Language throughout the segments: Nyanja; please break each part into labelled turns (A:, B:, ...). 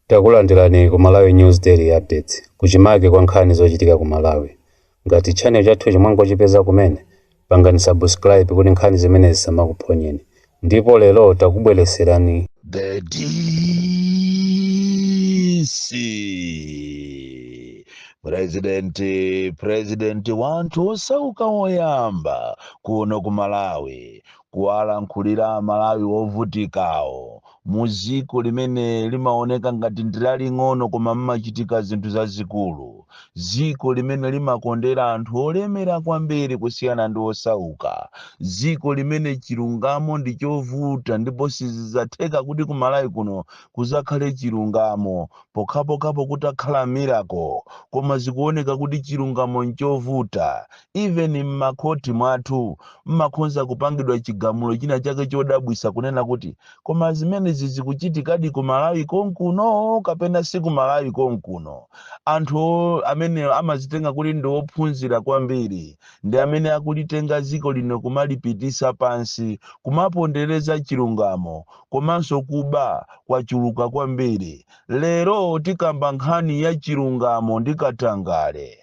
A: Takulandirani ku Malawi News Daily Updates, kuchimake kwa nkhani zochitika ku Malawi. Ngati channel chathuchi mwangochipeza kumene, pangani subscribe kuti nkhani zimene zisamakuphonyeni. Ndipo lero takubweretserani
B: The DC President, President wa anthu osauka woyamba kuno ku Malawi kuwalankhulira amalawi wovutikawo muziko limene limaoneka ngati ndilaling'ono koma mmachitika zinthu zazikulu ziko limene limakondera anthu olemera kwambiri kusiyana ndi osauka ziko limene chilungamo ndi chovuta ndipo sizizatheka kuti kumalawi kuno kuzakhale chilungamo pokhapokhapo kutakhala miracle koma zikuoneka kuti chilungamo nchovuta even mmakhoti mwathu mmakhonza kupangidwa chigamulo china chake chodabwisa kunena kuti koma zimenezi zikuchitikadi ku malawi konkuno kapena si ku malawi konkuno anthu o- amene amazitenga kuti ndi ophunzira kwambiri ndi amene akulitenga dziko lino kumalipitisa pansi kumapondereza chilungamo komanso kuba kwachuluka kwambiri lero tikamba nkhani ya chilungamo ndi katangale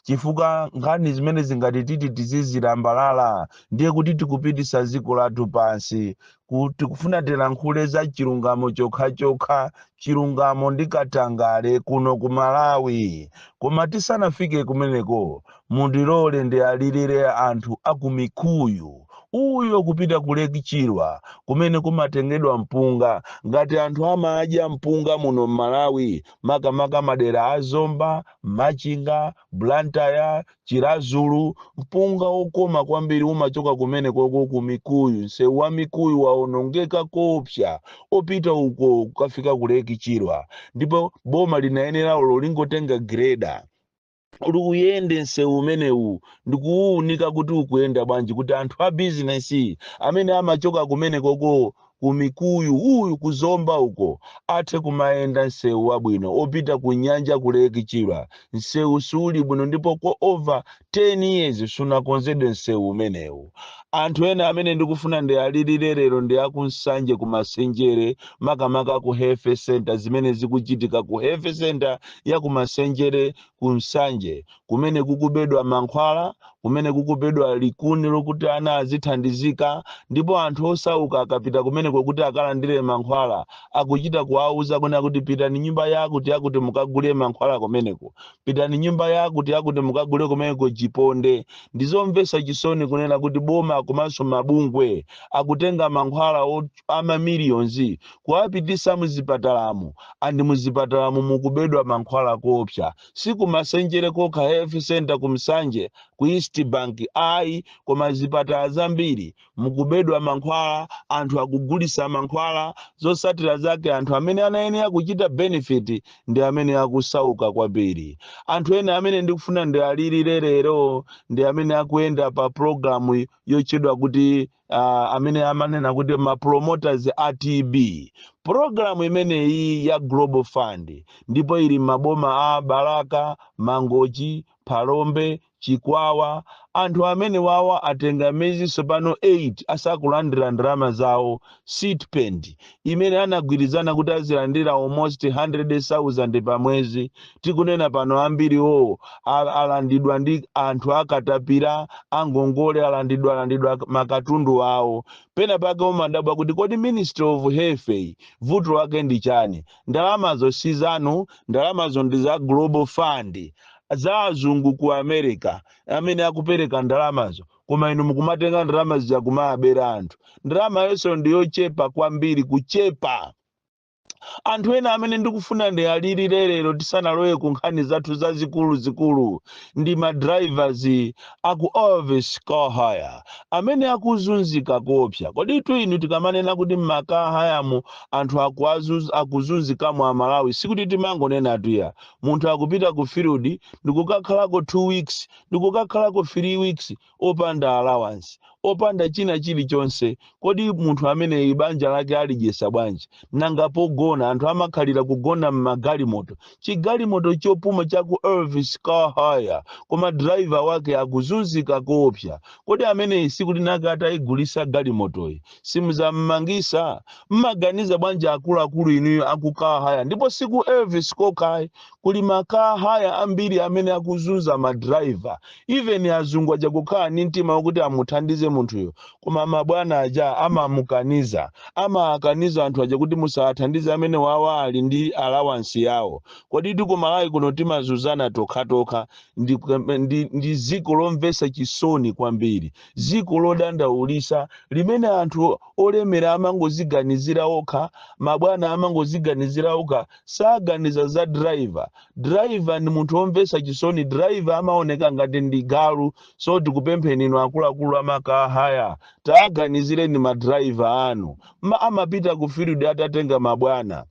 B: chifukwa nkhani zimenezi ngati titi tizizilambalala ndiye kuti tikupitisa dziko lathu pansi Ku- tikufuna tilankhule za chilungamo chokhachokha chilungamo ndi katangale kuno ku malawi koma tisanafike kumeneko mundilole ndiwalilire anthu a ku mikuyu uyo kupita ku lake chilwa kumene kumatengedwa mpunga ngati anthu amadya mpunga muno m'malawi makamaka madera a zomba Machinga, Blantyre, Chiradzulu, mpunga wokoma kwambiri umachoka kumenekoko ku Mikuyu. Nsewu wa Mikuyu waonongeka koopsa opita uko kukafika ku Lake Chilwa ndipo boma linayenera olo lingotenga gireda kuti uyende nsewu umenewu ndi kuwuunika kuti ukuyenda bwanji kuti anthu a bizinesi amene amachoka kumenekoko ku mikuyu uyu ku zomba uko athe kumayenda nsewu wabwino opita ku nyanja ku lake chilwa nsewu siuli bwino ndipo kwa over 10 years sunakonzedwe nsewu umenewu anthu ena amene ndikufuna ndiwalilire lero ndi akunsanje ku masenjere makamaka ku health center zimene zikuchitika ku health center ya ku masenjere ku nsanje kumene kukubedwa mankhwala kumene kukubedwa likuni lokuti ana azithandizika ndipo anthu osauka akapita kumeneko kuti akalandire mankhwala akuchita kuwauza kunena kuti pitani nyumba yakuti yakuti mukagule mankhwala kumeneko pitani nyumba yakuti yakuti mukagule kumeneko chiponde ndizomvetsa chisoni kunena kuti boma komanso mabungwe akutenga mankhwala o- amamiliyonzi kuwapitisa muzipatalamu and muzipatalamu mukubedwa mankhwala koopsa si ku masenjere kokha health center ku nsanje ku east bank ayi koma zipatala zambiri mukubedwa mankhwala anthu akugulisa mankhwala zosatira zake anthu amene anayenera kuchita benefit ndi amene akusauka kwambiri anthu ena amene ndikufuna ndialirire lero ndi amene akuyenda pa programu yochedwa kuti uh, amene amanena kuti ma promoters a tb programu imeneyi ya global fund ndipo ili mmaboma a balaka mangochi phalombe chikwawa anthu amene wawa atenga mezi tsopano 8 asakulandira ndalama zawo stipend imene anagwirizana kuti azilandira almost 100,000 pa mwezi tikunena pano ambiri awo al- alandidwa ndi anthu akatapira angongole alandidwa alandidwa makatundu awo pena pake umadabwa kuti kodi ministry of health iyi vuto wake ndi chani ndalamazo si zanu ndalamazo ndi za global fund za azungu ku america amene akupereka ndalamazo koma inu mukumatenga ndalama zija kumawabera anthu ndalama yenso ndiyochepa kwambiri kuchepa anthu ena amene ndikufuna ndiwalirire lero tisanalowe ku nkhani zathu zazikuluzikulu ndi madrivers aku elvis car hire amene akuzunzika koopsa koditu inu tikamanena kuti m'ma car hire mu anthu akuazuz- akuzunzikamo amalawi sikuti timangonenatu ayi munthu akupita ku field ndikukakhalako two weeks ndikukakhalako 3 weeks opanda allowance, opanda china chili chonse, kodi munthu ameneyi banja lake alidyesa bwanji? Nanga pogona, anthu amakhalira kugona mmagalimoto, chigalimoto chopoma chaku Elvis Car Hire koma driver wake akuzunzika koopsa, kodi ameneyi siku linake ataigulisa galimotoyi simuzammangisa? Mmaganiza bwanji akuluakulu inuyo aku Car Hire? Ndipo siku Elvis kokhayi, kuli ma car hire ambiri amene akuzunza ma driver even azungu aja kukhala ndi mtima wakuti amuthandize munthuyo koma mabwana aja amamukaniza amakaniza anthu aja kuti musawathandize amene wawa ali ndi allowance yawo koditu ku malawi kuno timazunzana tokhatokha ndi, ndi, ndi ziko lomvesa chisoni kwambiri ziko lodandaulisa limene anthu olemera amangoziganizira okha mabwana amangoziganizira okha saganiza za driver driver ndi munthu womvetsa chisoni driver amaoneka ngati ndi galu so tikupempheni inu akuluakulu amakahaya taganizireni ma driver anu ma amapita ku field atatenga mabwana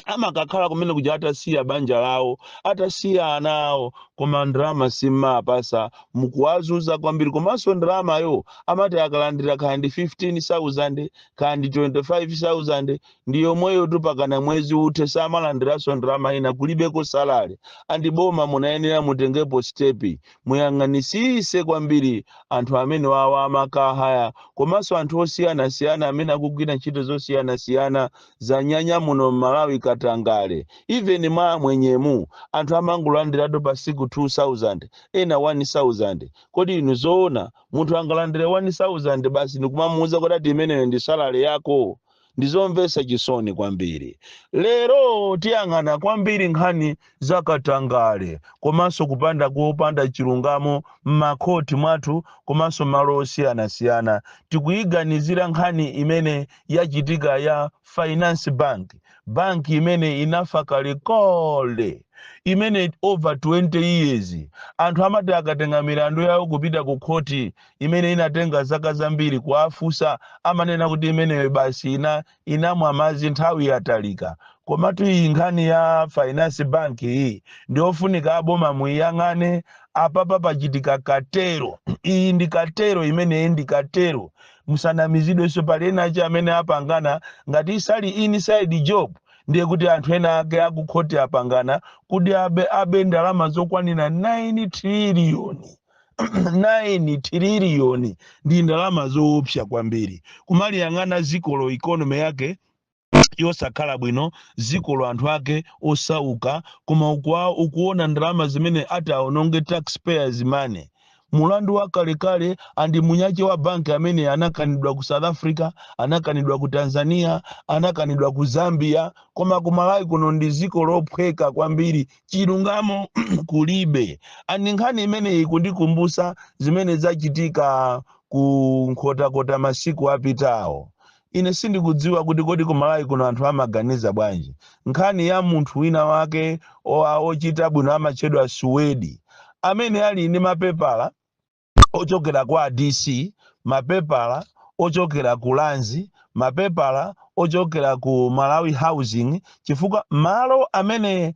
B: amakakhala kumene kuja atasiya banja lawo atasiya ana awo koma ndalama simapasa mukuwazuza kwambiri komanso ndalamayo amati akalandira kaya ndi 15000 kaya ndi 25000 ndi yomweyotu pakana mwezi uthe samalandiranso ndalama ina kulibeko salale andi boma munayenera mutengepo stepi muyang'anisise kwambiri anthu amenewawa amakahaya komanso anthu osiyanasiyana amene akugwira ntchito zosiyanasiyana zanyanya muno mmalawi katangale even mwa amwenyemu anthu amangolandiratu pa siku 2000 ena 1000 kodi inu zoona munthu angalandire 1000 basi ndikumamuuza kuti ati imeneyo ndi salale yako Ndi zomvetsa chisoni kwambiri. Lero tiyang'ana kwambiri nkhani za katangale komanso kupanda kopanda chilungamo m'makhoti mwathu komanso malo osiyanasiyana. Tikuyiganizira nkhani imene yachitika ya Finance Bank, banki imene inafa kalekale imene over 20 years anthu amati akatenga milandu yawo kupita ku khoti imene inatenga zaka zambiri kuwafunsa amanena kuti imeneyo basi inamwa madzi nthawi yatalika komatu iyi nkhani ya finance bank iyi ndiyofunika aboma muiyang'ane apapa pachitika katero iyi ndi katero imeneyi ndi katero musanamizidwenso pali ena ache amene apangana ngati isali inside job ndiye kuti anthu ena ake akukhoti apangana kuti abe ndalama zokwanira 9 triliyoni 9 triliyoni ndi ndalama zoopsa kwambiri kumaliyang'ana zikolo ikonomi yake yosakhala bwino zikolo anthu ake osauka koma ukuona ndalama zimene ati aononge taxpayers money mulandu wa kalekale andi munyache wa banki amene anakanidwa ku south africa anakanidwa ku tanzania anakanidwa ku zambia koma ku malawi kuno ndi ziko lophweka kwambiri chilungamo kulibe and nkhani imeneyi ikundikumbusa zimene zachitika ku nkhotakota masiku apitawo ine sindikudziwa kuti kodi ku malawi kuno anthu amaganiza bwanji nkhani ya munthu wina wake oa ochita bwino amatchedwa suwedi amene ali ndi mapepala ochokera kwa DC, mapepala ochokera ku Lands, mapepala ochokera ku Malawi Housing chifukwa malo amene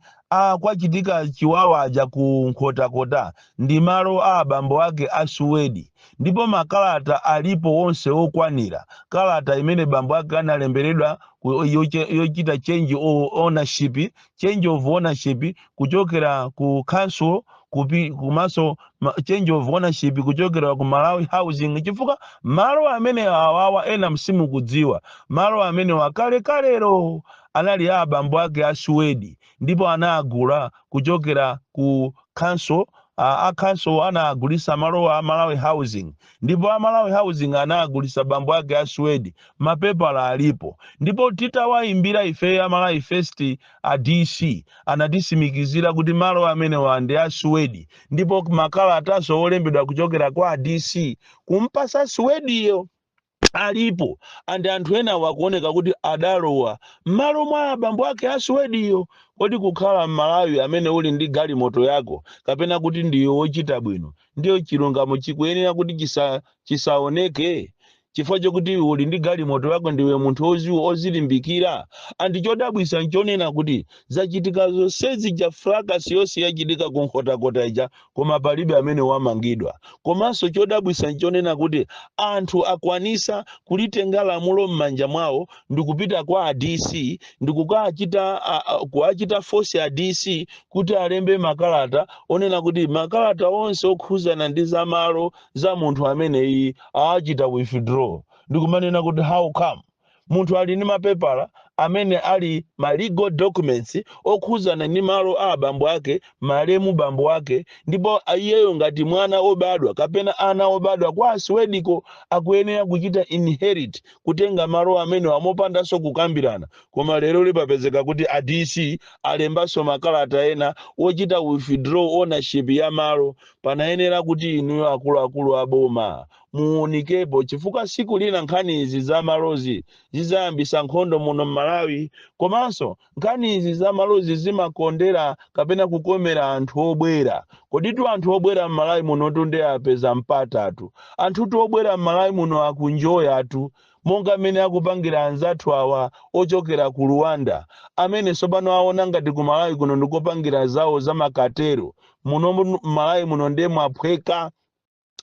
B: kwachitika chiwawa aja ku Nkhotakota ndi malo a abambo ake a Suwedi ndipo makalata alipo onse okwanira kalata imene bambo ake analemberedwa ku- yoche- yochita change o- ownership change of ownership kuchokera ku council kupi komanso ma- change of ownership kuchokera ku Malawi housing chifukwa malo amene awawa ena msimukudziwa malo amenewa kalekalero anali a abambo ake a Suwedi ndipo anagula kuchokera ku council a, a council anagulisa malo a Malawi housing ndipo a Malawi Housing anagulitsa bambo ake a Suwedi, mapepala alipo, ndipo titawayimbira ifeyo a Malawi First a DC anatisimikizira kuti malo amenewa ndi a Suwedi, ndipo makalataso wolembedwa kuchokera kwa a DC kumpasa Suwediyo alipo and anthu enawa akuoneka kuti adalowa m'malo mwa abambo ake a Suwediyo. Kodi kukhala m'Malawi amene uli ndi galimoto yako kapena kuti ndiwe wochita bwino ndiyo chilungamo chikuyenera kuti chisa, chisaoneke chifukwa chokuti iwe uli ndi galimoto yako ndiwe munthu oziwo ozilimbikira and chodabwisa nchonena kuti zachitika zonsezi ja fracas yonse yachitika ku nkhotakota ija koma palibe amene wamangidwa komanso chodabwisa nchonena kuti anthu akwanisa kulitenga lamulo m'manja mwawo ndikupita kwa a dc ndikukachita kuwachita force a dc kuti alembe makalata onena kuti makalata onse okhuzana ndi za malo za munthu ameneyi awachita withdraw ndikumanena kuti how come munthu ali ndi mapepala amene ali ma legal documents okhuzana ndi malo a abambo ake malemu bambo ake ndipo iyeyo ngati mwana obadwa kapena ana obadwa kwa a Suwediko akuyenera kuchita inherit kutenga malo amenewa mopandanso kukambirana Koma lero lipapezeka kuti a DC alembanso makalata ena ochita withdraw ownership ya malo, panayenera kuti inuyo akuluakulu a boma muunikepo chifukwa siku lina nkhani izi za malozi zizayambisa nkhondo muno mmalawi komanso nkhani izi za malozi zimakondera kapena kukomera anthu obwera koditu anthu obwera mmalawi munotu nde apeza mpatatu anthutu obwera mmalawi muno akuenjoyatu monga mmene akupangira anzathu awa ochokera ku Rwanda amene tsopano aona ngati ku Malawi kuno ndikopangira zawo za makatero. Muno mu- Malawi muno ndiye mwaphweka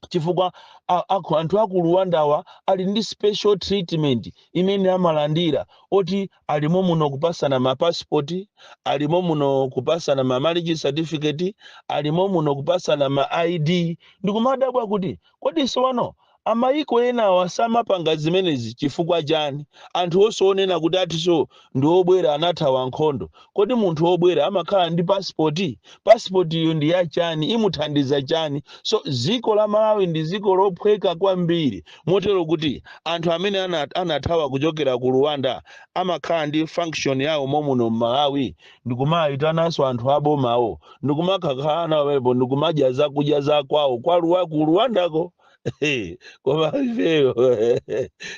B: chifukwa a- aku- anthu aku Rwandawa ali ndi special treatment imene amalandira oti alimo muno kupasana mapasipoti alimo muno kupasana ma marriage certificate alimo muno kupasana ma id ndikumadabwa kuti kodi sowano Amayiko enawa samapanga zimenezi chifukwa chani? Anthu onse onena kuti akutinso ndi obwera anathawa nkhondo, kodi munthu obwera amakhala ndi passport? Passport yo ndi ya chani? Imuthandiza chani? So dziko la Malawi ndi dziko lophweka kwambiri motero kuti anthu amene ana anathawa kuchokera ku Rwanda amakhala ndi function yawo momuno m'Malawi? ndikumayitananso anthu abomawo ndikumakakhala nawo pamenepo ndikumadya zakudya za kwawo kwa Ruwa- ku Rwandako koma ifeyo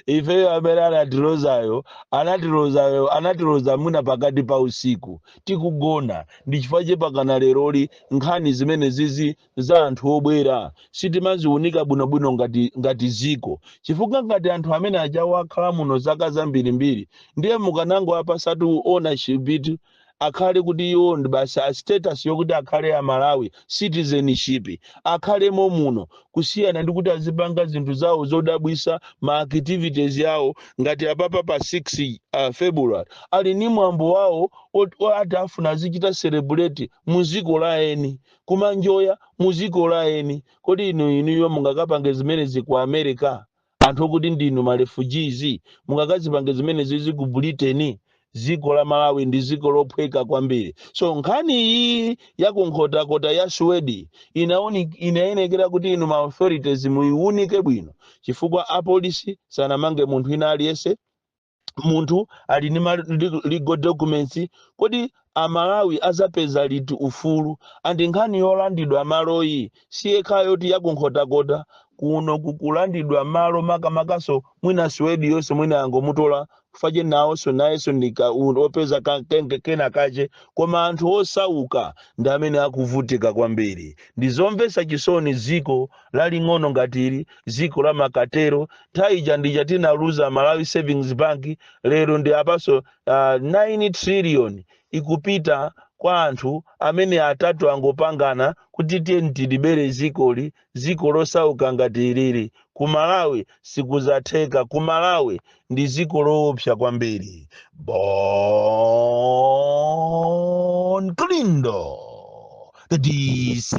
B: ifeyo amene anatilozayo anatilozayo anatiloza mwina pakati pa usiku tikugona ndi chifukwa chake mpakana leroli nkhani zimene zizi za anthu obwera sitimaziunika bwinobwino ngati, ngati dziko chifukwa ngati anthu amene ajawo akhala muno zaka zambirimbiri ndiye mukanangowapasatu ownership akhale kuti iwo ndi basi status yokuti akhale a Malawi citizenship akhalemo muno kusiyana ndi kuti azipanga zinthu zawo zodabwisa ma activities awo ngati apapa pa 6 uh, February ali ni mwambo wawo ot- ati afuna azichita celebrate mu dziko la eni kumanjoya muziko la eni kodi inu inuyo mungakapange zimenezi ku America anthu okuti ndinu ma refugees mungakazipange zimenezizi ku Britain ziko la Malawi ndi ziko lophweka kwambiri so nkhani iyi ya kunkhotakota ya Swedi inauni inayenekera kuti inu ma authorities muiunike bwino chifukwa apolisi sangamange munthu ina aliyense munthu ali ndi ma li- legal documents kodi amalawi azapeza liti ufulu and nkhani yolandidwa maloyi siyokhayo yoti yakunkhotakota kuno kukulandidwa malo makamakaso mwina Swediyonso mwina yangomutola kufache nawonso nayenso ndika opeza ka- kenge- kena kache koma anthu osauka ndi amene akuvutika kwambiri ndizomvesa chisoni dziko laling'ono ngati ili ziko la makatero nthawi ija ndija tinaluza Malawi Savings Bank lero ndi apaso uh, 9 trillion ikupita kwa anthu amene atatu angopangana kuti tiyeni tilibere zikoli ziko losauka ngati ilili ku Malawi sikuzatheka ku Malawi ndi dziko loopsa kwambiri bon kalindo the dc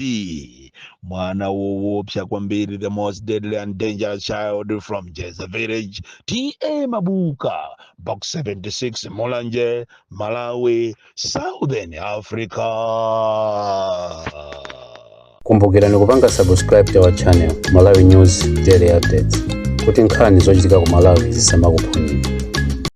B: mwana woopsa kwambiri the most deadly and dangerous child from jeza village ta mabuka box 76 mulanje malawi southern africa
A: kumbukirani kupanga subscribe to our channel malawi news daily updates kuti nkhani zochitika ku malawi zisamakuphonyeni